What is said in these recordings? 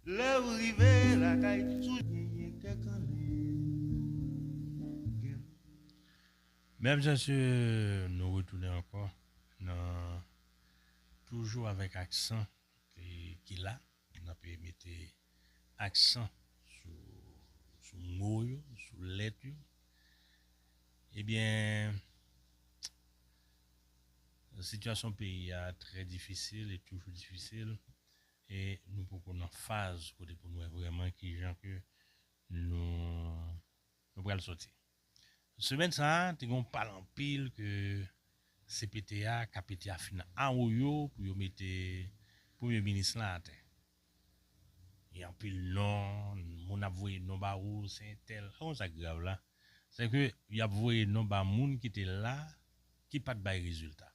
Lew rive lakay toujou genyen kè kannen. Mèvs asyeu nou retounen ankò nan toujou avèk aksan ki la nape mete aksan sou mo yo sou lèt yo ebyen Sitiyasyon peyi a trè difisil e toujou difisil e nou poko nan faz kote pou nou wè vrèman kijan ke nou pral sòti. Semèn sa a te gen yon pale anpil ke cpt a ka pete a fin awoyo pou yo mete premye minis la atè. Gen anpil non, moun ap voye non ba ou, se entèl. Ou konn sa ki grav la? Se ke y ap voye non ba moun ki te la, ki pa t bay rezilta.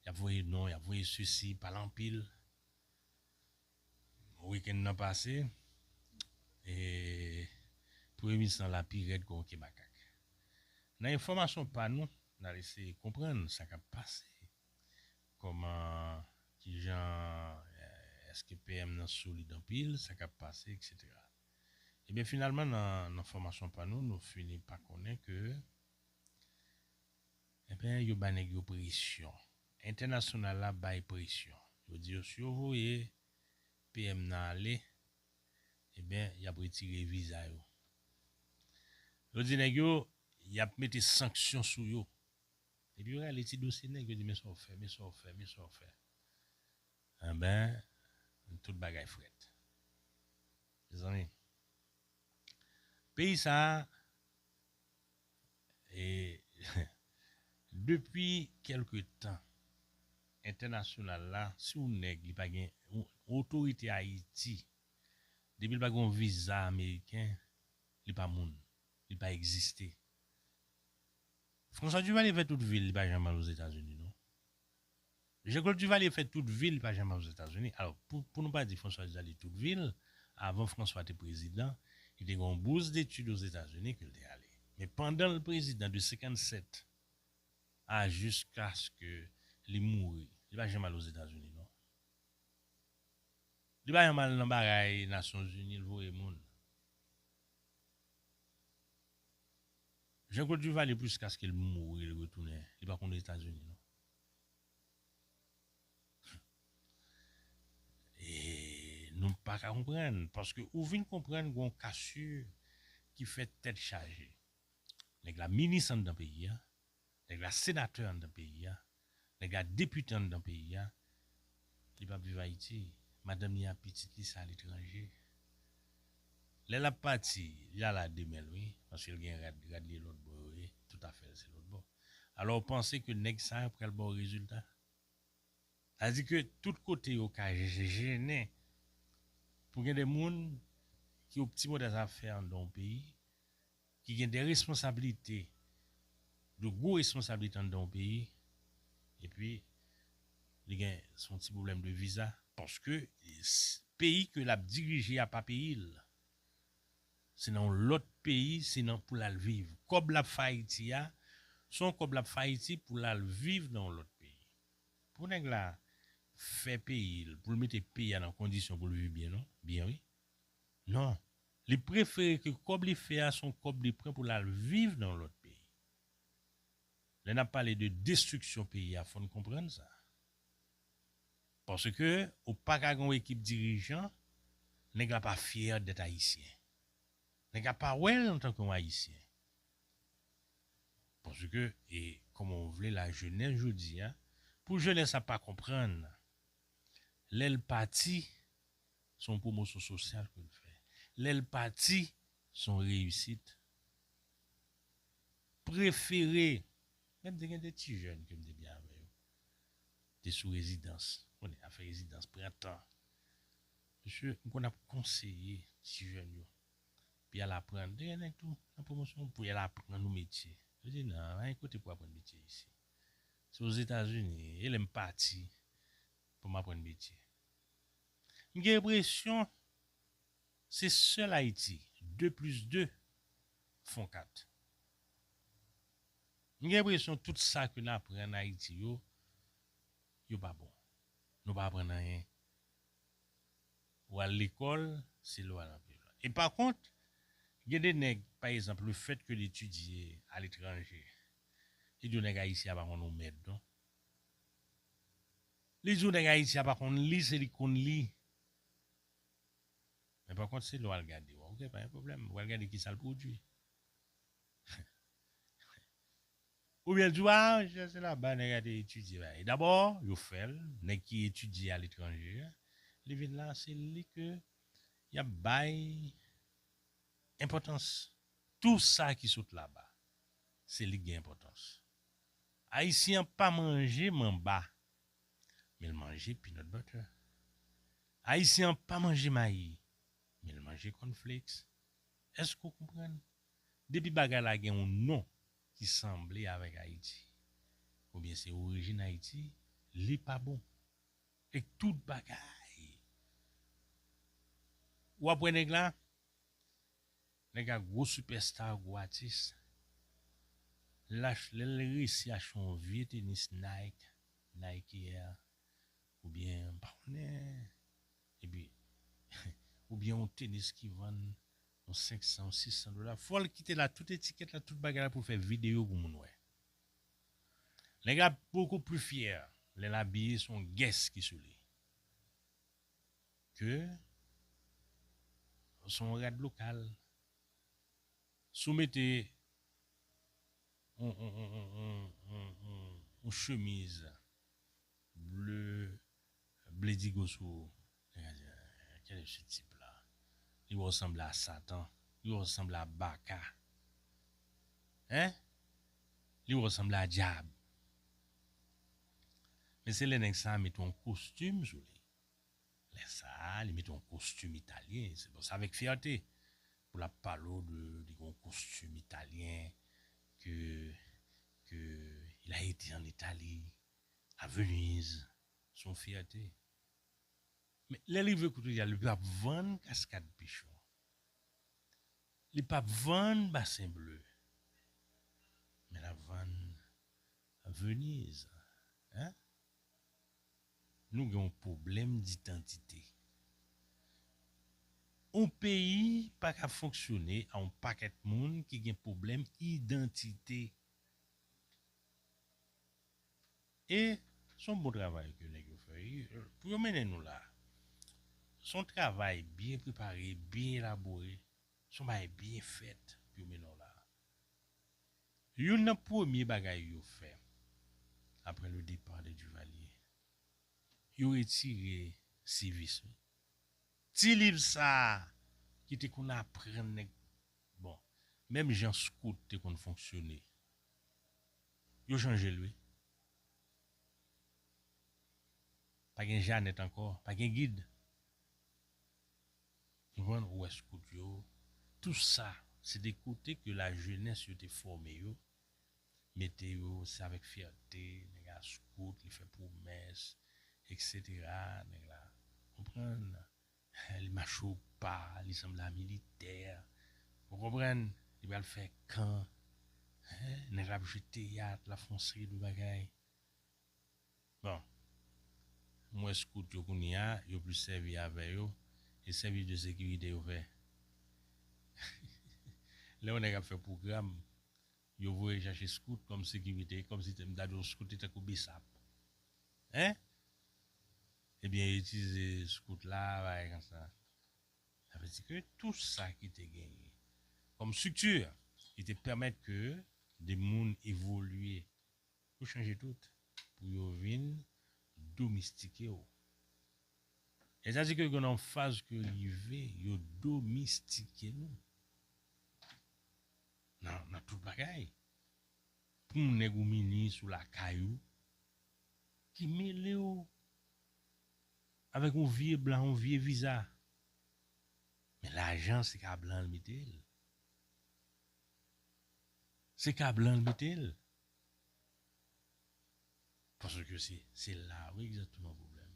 Y ap voye non, y ap voye sesi, pale anpil. Wikenn nan pase, premye minis lan la pi rèd ke yon ke makak. Nan enfòmasyon pa nou, n al eseye konprann sa k ap pase. Kòman, kijan, èske PM nan solid anpil, sa k ap pase, eksetera. Ebyen finalman nan fòmasyon pa nou, nou fini pa konnen ke enben yo bay nèg yo presyon, entènasyonal la bay presyon, yo di yo si yo voye PM nan ale, ebyen y ap retire viza yo. Yo di nèg yo y ap mete sanksyon sou yo. Depi yo rale ti dosye nèg yo di men sa w fè, men sa w fè, men sa w fè. Anben, tout bagay frèt. Mezanmi, peyi sa a, e, depi kèlke tan, entènasyonal la, si w nèg li pa gen, otorite Ayiti, depi l pa gen yon viza ameriken, li pa moun, li pa egziste. François Duvalier fè tout vil li pa janm al ozetazini non Jean Claude Duvalier fè tout vil li pa janm al ozetazini alò pou nou pa di François Duvalier tout vil avan François te prezidan li te gen yon bous detid ozetazini ke li te ale men pandan li prezidan de 57 a jiskaske li mouri li pa janm al ozetazini non li pa janm al nan bagay nasyon zini li voye moun. Jean Claude Duvalier puskaskel mouri li retounen li pa konn etazini non humm nou paka konprann paske ou vin konprann gon casu ki fè tèt chaje nèg la minis anndan peyi a nèg la senatè anndan peyi a Nèg la depite anndan peyi a, li pap viv Ayiti, madanm li ak pitit li se aletranje. Lè lap pati, li al a 2 men l wi, paske l gen rad, rad li e lòt bò yo ye, tout afè l se lòt bò. Alò w panse ke nèg sa a pral ba w rezilta? Sa vle di ke tout kote yo ka jennen pou gen de moun ki opti modèl sa ap fè anndan yon peyi, ki gen de responsabilite, de gwo responsabilite anndan yon peyi, epi li gen son ti pwoblèm de viza, paske peyi ke lap dirije a pa peyi l, se nan yon lòt peyi, se nan pou lal viv, kòb lap fè Ayiti a, se yon kòb lap fè Ayiti pou lal viv nan yon lòt peyi, pou nèg la fè peyi l, pou l mete peyi a nan kondisyon pou l viv byen non, byen wi. Non, li prefere ke kòb li fè a son kòb li pran pou l al viv nan yon lòt peyi. Lè n ap pale de destriksyon peyi a fò n konprann sa. Paske ou pa ka gen yon ekip dirijan, nèg la pa fyè dèt ayisyen. Nèg la pa wè l antanke yon ayisyen. Paske e kòman ou vle la jenès jodi a, pou jenès la pa konprann lè l pati, Se yon pwomosyon sosyal ke l fè. Lè l pati, se yon reyisit. Prefere, menm te gen de ti jèn ke m te gen avè yo, te sou rezidans. Konnen y ap fè rezidans, pran tan. Mesye, m konn ap konseye ti jèn yo pou y al aprann. Te gen nèg tou nan pwomosyon, pou y al aprann yon metye. Yo di nan, pa gen kote pou w aprann metye isi. Se Ozetazini, e lè m pati pou m aprann metye. M gen enpresyon se sèl Ayiti 2 plis 2 fon 4. M gen enpresyon tout sa ke n aprann Ayiti yo, yo pa bon. Nou pa aprann anyen. Ou al lekòl, se lè w al anpil. E pa kont, gen de nèg, pa ezanp, le fèt ke l etidye aletranje, li di w nèg Ayisyen a pa konn yon mèd non. Li di w nèg Ayiti a pa konn li se li k konn li. Men pa kont se lè w al gade w ok pa gen pwoblèm ou al gade kisa l pwodui. Oubyen l di w a sa se laba nèg a te etidye bagay. Dabò yo fè l, nèg ki etidye aletranje a, li vin la se li ke y ap bay enpòtans. Tou sa ki sot laba se li k gen enpòtans. Ayisyen an pa manje manba, men l manje peanut butter. Ayisyen an pa manje mayi, men l manje corn flakes. Èske ou konprann? Depi bagay la gen yon non ki sanble avèk Ayiti, oubyen se orijin Ayiti, li pa bon. E tout bagay! Ou ap wè nèg la? Nèg la gwo sipèsta, gwo atis. Lach lè l resi achte yon vye tenis Nike, Nike Air oubyen m pa konnen epi oubyen yon tenis ki vann yon 500, yon 600 dola fò l kite la tout etikèt la tout bagay la pou l fè videyo pou moun wè. Nèg la ap beaucoup plus fier lè l abiye se yon guess ki sou li. ke w son rad lokal si w mete yon chemiz ble ble digo sou ou nèg a di kèlè se tip la li wè w sanble a satan li wè w sanble a baka hein li wè w sanble a djab Men se lè nèg sa a mete yon kostim sou li. Lè sa a, li mete yon kostim italyen. Se bon, se avèk fyète pou l ap pale w de li gen yon kostim italyen, ke, ke il a ete an Itali, a Veniz. Se yon fyète. Men, lè l rive kote li a, li p ap vann kaskad Pichon. Li p ap vann Basen Ble. Men l ap vann Venise hein Nou gen yon problème d'identité Yon peyi pa ka fonksyone a yon pakèt moun ki gen problèm idantite E se yon bon travay ke nèg yo fè wi Pou yo mennen nou la Se yon travay byen prepare, byen elabore Se yon bagay byen fèt pou yo mennen w la Youn nan premye bagay yo fè aprè le départ de Duvalier, yo retire Civis wi. Ti liv sa a ki te konn aprann nèg bon, menm jan Scout te konn fonksyone, yo chanje l wi. Pa gen Janèt ankò, pa gen gid. Jwenn wè scout yo, tou sa se te kote ke la jenès yo te fòme yo, mete yo, se avèk fyète nèg la scout, li fè pwomès, eksetera, nèg la, konprann, li mache o pa, li sanble a militè, ou konprann, li pral fè kan, nèg la ap jwe teyat, l ap fè yon seri de bagay, Bon. M wè scout yo kounye a, yo plis sèvi avè yo, e sèvis de sekirite yo fè. Lè yon nèg ap fè pwogram, yo voye chache scout kòm sekirite, kòm si m ta di yon scout te tankou bsap. Hein? Ebyen yo itilize scout la, bagay konsa. Sa vle di ke tou sa ki te genyen kòm structure ki te pèmèt ke de moun evolye Yo chanje tout pou yo vin domistike w. Lè sa di ke gen yon faz ke rive yo domistike nou nan tout bagay. Pou yon nèg ou minis ou lakay ou ki mele w avèk yon vye blan, yon vye viza. Men lajan se ka blan l mete l. Se ka blan l mete l. Paske se se la wi egzakteman pwoblèm.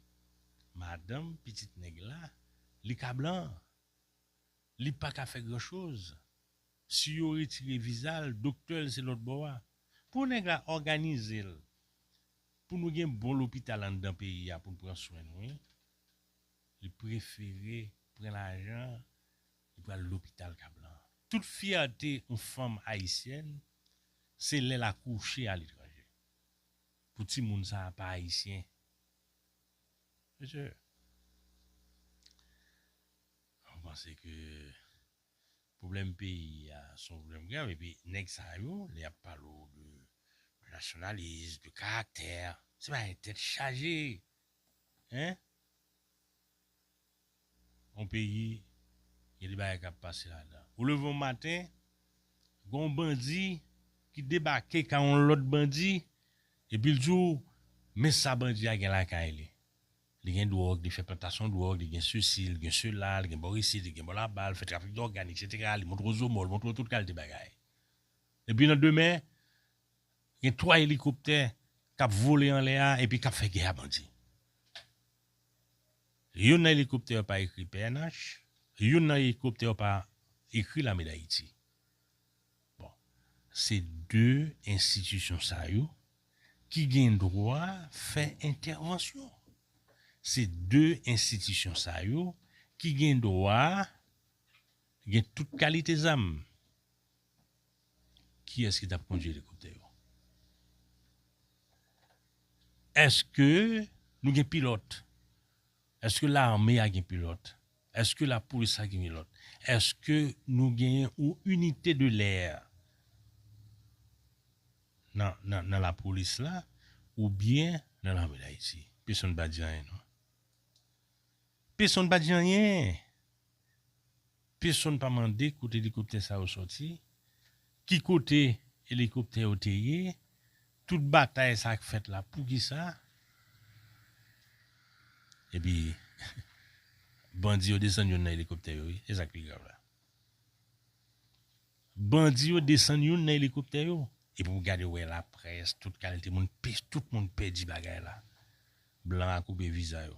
Madanm pitit nèg la, li ka blan. Li pa ka fè gran choz. Si yo retire viza l, doktè l se lòt bò a. Pou nèg la òganize l pou nou gen bon lopital anndan peyi a pou l pran swen nou wi. Li prefere pran lajan Li pral lopital Kablan an. Tout fyète yon fanm ayisyèn se lè l akouche aletranje. Pou timoun sa a pa ayisyen. Mesye, mwen panse ke pwoblèm peyi a se yon pwoblèm grav epi nèg sa yo lè y ap pale w de nasyonalis, de karaktè, se bagay tèt chaje. Hein? yon peyi gen de bagay kap pase ladan. Ou leve yon maten gen yon bandi ki debake kay yon lòt bandi epi l di w men sa bandi a gen lakay li. Li gen dwòg, li fè plantasyon dwòg, li gen sesi, li gen sela, li gen bò isit, li gen bò laba, li fè trafik dògàn eksetera, li montre w zomò, li montre w tout kalite bagay. Epi nan demen gen 3 elikoptè kap vole anlè a epi kap fè gè a bandi. Youn nan elikoptè yo pa ekri pnh, youn nan elikoptè yo pa ekri lame dayiti. Bon, se 2 enstitisyon sa yo ki gen dwa fè entèvansyon. Se 2 enstitisyon sa yo ki gen dwa gen tout kalite zam. Kiyès ki tap kondwi elikoptè yo? Eske nou gen pilòt? Eske lame a gen pilòt? Eske lapolis la gen pilòt? Eske nou genyen yon inite de lè nan lapolis la oubyen nan lame dayiti? Pesonn pa di anyen non. Pesonn pa di anyen! Pesonn pa mande kote elikoptè sa yo sòti, ki kote elikoptè yo te ye, tout batay sa k fèt la poukisa? Epi bandi yo desann youn nan elikoptè yo wi, se sa k pi grav la. Bandi yo desann youn nan elikoptè yo. Epi w gade w wè laprès, tout kalite moun, tout moun pèdi bagay la. Blan a koupe viza yo.